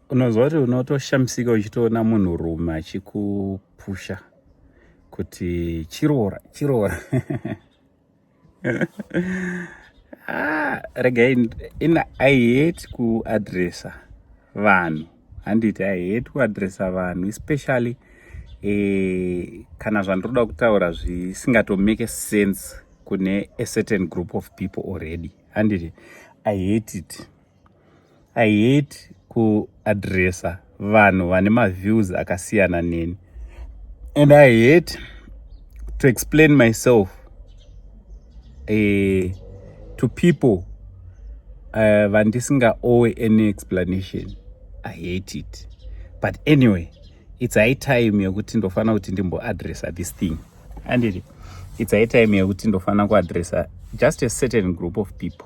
unonzwa kuti unotoshamisika uchitoona munhu rume achikupusha kuti chiroora chiroora ah, rega in i hate kuadressa vanhu handiti i hate kuadressa vanhu especially eh, kana zvandiroda kutaura zvisingatomake sense kune a certain group of people already handiti i hate it I hate kuadressa vanhu vane maviews akasiyana neni and I hate to explain myself uh, to people eh, vandisinga uh, owe any explanation I hate it but anyway it's high time yekuti ndofanira kuti ndimboadressa this thing andiri it's high time yekuti ndofanira kuadressa just a certain group of people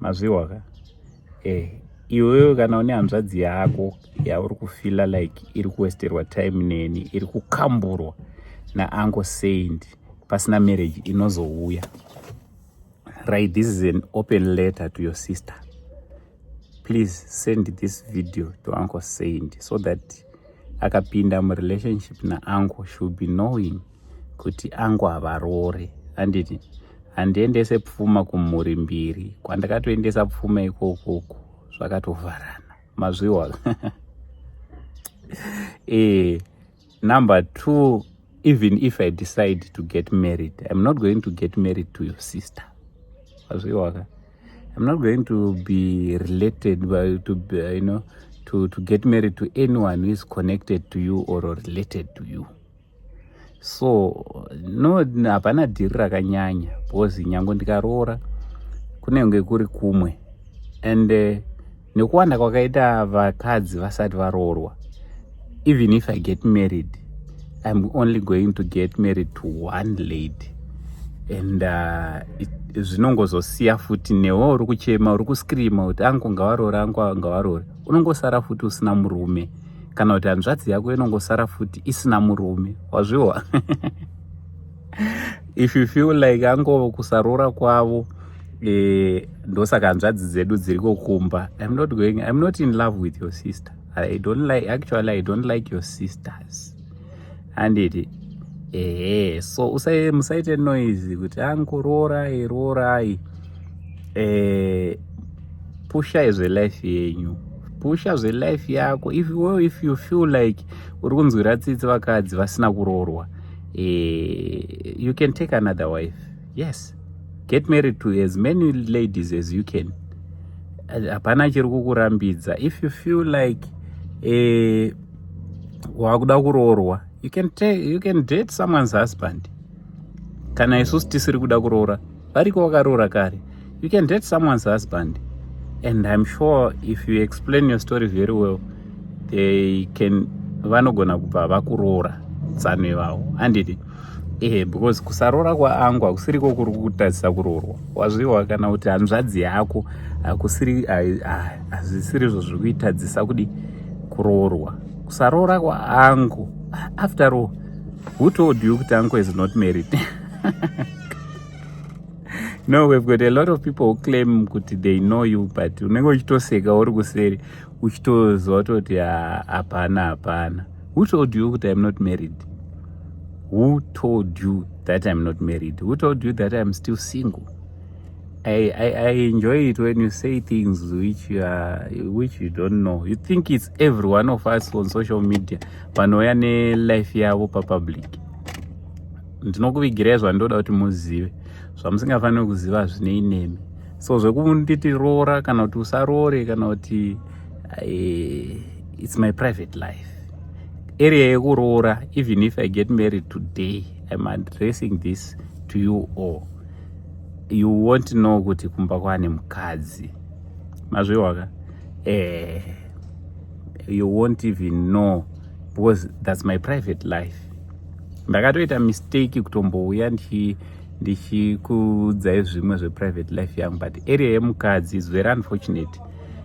mazvihwa ka eh iwewe kana une hanzvadzi yako yauri kufila like iri kuwesterwa time neni iri kukamburwa naanko saint pasina marriage inozouya right this is an open letter to your sister please send this video to anko saint so that akapinda murelationship naanko should be knowing kuti angu havarore handiti handiendese pfuma kumhuri mbiri kwandakatoendesa pfuma ikokoko zvakatovharana mazviwa e, number two even if i decide to get married i'm not going to get married to your sister mazviwaka i'm not going to be related by, to be, you know to, to get married to anyone who is connected to you or related to you so no hapana dhiri rakanyanya because nyange ndikaroora kunenge kuri kumwe and uh, nekuwanda kwakaita vakadzi vasati varoorwa even if i get married i'm only going to get married to one lady and uh, zvinongozosiya uh, futi newe uri kuchema uri kuscreama kuti angu ngavarore angu ngavarore unongosara futi usina murume kana kuti hanzvadzi yako inongosara futi isina murume wazviwa if you feel like ango kusarora kwavo eh, ndosaka hanzvadzi dzedu dziri kokumba im not going im not in love with your sister i don't like actually i don't like your sisters handiti ehe so usai musaite noise kuti angu roorai roorai eh pusha izve life yenyu pusha zve life yako if well, if you feel like uri kunzwira tsitsi vakadzi vasina kuroorwa eh you can take another wife yes get married to as many ladies as you can hapana chiri kukurambidza if you feel like eh wakuda kuroorwa you can, you can date someone's husband kana isusu tisiri kuda kuroora variko wakaroora kare you can date someone's husband and i'm sure if you explain your story very well they can vanogona kubva vakuroora tsano ivavo handiti ehe because kusaroora kwaangu hakusiriko kuri kutadzisa kuroorwa wazviwa kana kuti hanzvadzi yako hakusiri hazvisiri izvo zviri kuitadzisa kudi kuroorwa kusaroora kwaangu after all who told you kuti anko is not married no we've got a lot of people who claim kuti they know you but unenge uchitoseka uri kuseri uchitoziva toti hapana hapana Who told you kuti I'm not married? Who told you that I'm not married? Who told you that I'm still single? I, I, I enjoy it when you say things which you, are, which you don't know. You think it's every one of us on social media vanouya nelife yavo papublic. Ndinokuvigirai zvandoda kuti muzive zvamusingafaniri kuziva hazvinei nemi. So zvekunditi roora kana kuti usaroore kana kuti eh, it's my private life area yekuroora even if i get married today i'm addressing this to you all you won't know kuti kumba kwane mukadzi mazvihwaka eh, you won't even know because that's my private life ndakatoita mistake kutombouya ndichikuudzai zvimwe zveprivate life yangu but area yemukadzi is very unfortunate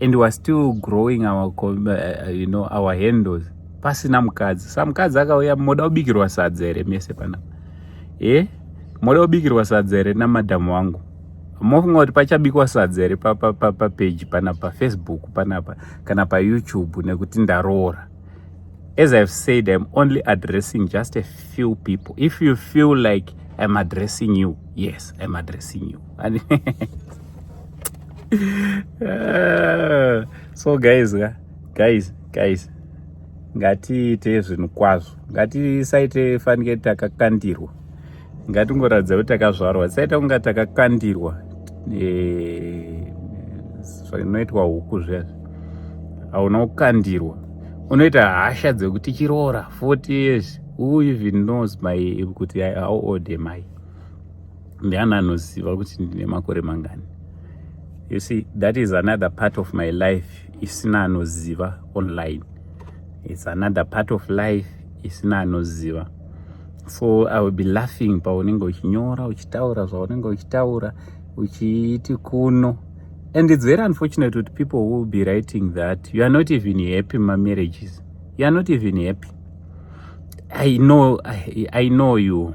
and weare still growing our, uh, you know, our handles pasina mukadzi sa mukadzi akauya moda kubikirwa sadza here mese panapa e eh? moda kubikirwa sadza here namadhamu wangu mofunga kuti pachabikwa sadza here papeji pana pafacebook panapa kana payoutube nekuti ndaroora as ihave said iam only addressing just a few people if you feel like iam addressing you yes iam addressing you Eh, so guys ka guys guys ngatiite zvinhu kwazvo ngatisaite fanike takakandirwa ngatingoratidza kuti takazvarwa tisaita kunga takakandirwa eh, zvinoitwa huku zviyazvi hauna kukandirwa unoita hasha dzekuti chiroora 40 years who even knows my kuti how old am i ndiani anoziva kuti ndine makore mangani you see that is another part of my life isina anoziva online its another part of life isina anoziva so i will be laughing paunenge uchinyora uchitaura zvaunenge uchitaura uchiiti kuno and its very unfortunate kuti people will be writing that you are not even happy mamarriages you are not even happy i know i, I know you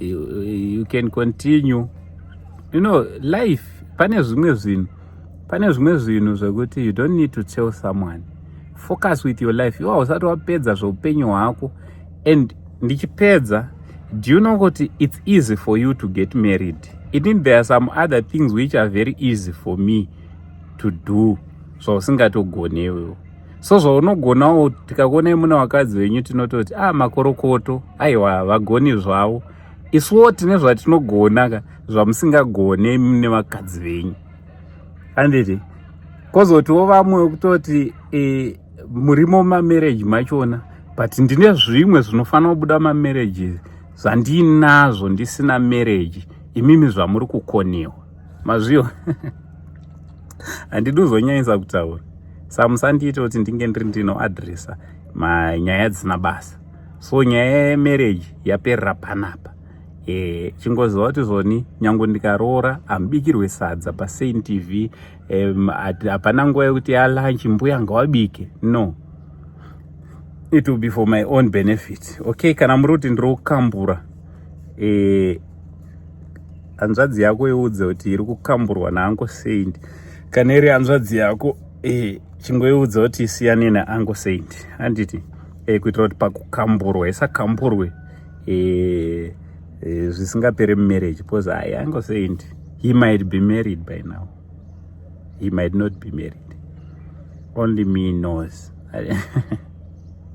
you, you can continue you know life pane zvimwe zvinhu pane zvimwe zvinhu zvekuti you don't need to tell someone focus with your life iwa usati wapedza zveupenyu hwako and ndichipedza do you know kuti it's easy for you to get married it mean there are some other things which are very easy for me to do zvausingatogoni so, iwewo so zvaunogonawo tikakuonai muna vakadzi venyu tinototi a ah, makorokoto aiwa havagoni zvavo isuwo tine zvatinogona ka zvamusingagone mune vakadzi venyu anditi kozotiwo vamwe kutoti e, murimo mamarriage machona but ndine zvimwe zvinofanira kubuda mamarriage zvandiinazvo ndisina marriage imimi zvamuri kukonewa mazviyo handidi uzonyanyisa kutaura sa musandiite kuti ndinge ndiri ndinoadresa manyaya dzisina basa so nyaya yemarriage yaperera panapa e, chingoziva kuti zvoni nyange ndikaroora hamubikirwe sadza pasain tv hapana um, nguva yekuti yalanchi mbuya ngawabike no it will be for my own benefit okay kana muri kuti ndiri kukambura e, hanzvadzi yako iudze kuti iri kukamburwa naanko saint kana iri hanzvadzi yako eh, chingoiudza kuti isiyane naanko saint handiti eh, kuitira kuti pakukamburwa isakamburwe eh, eh, zvisingapere mumarriage because ayi anko saint he might be married by now he might not be married only me knows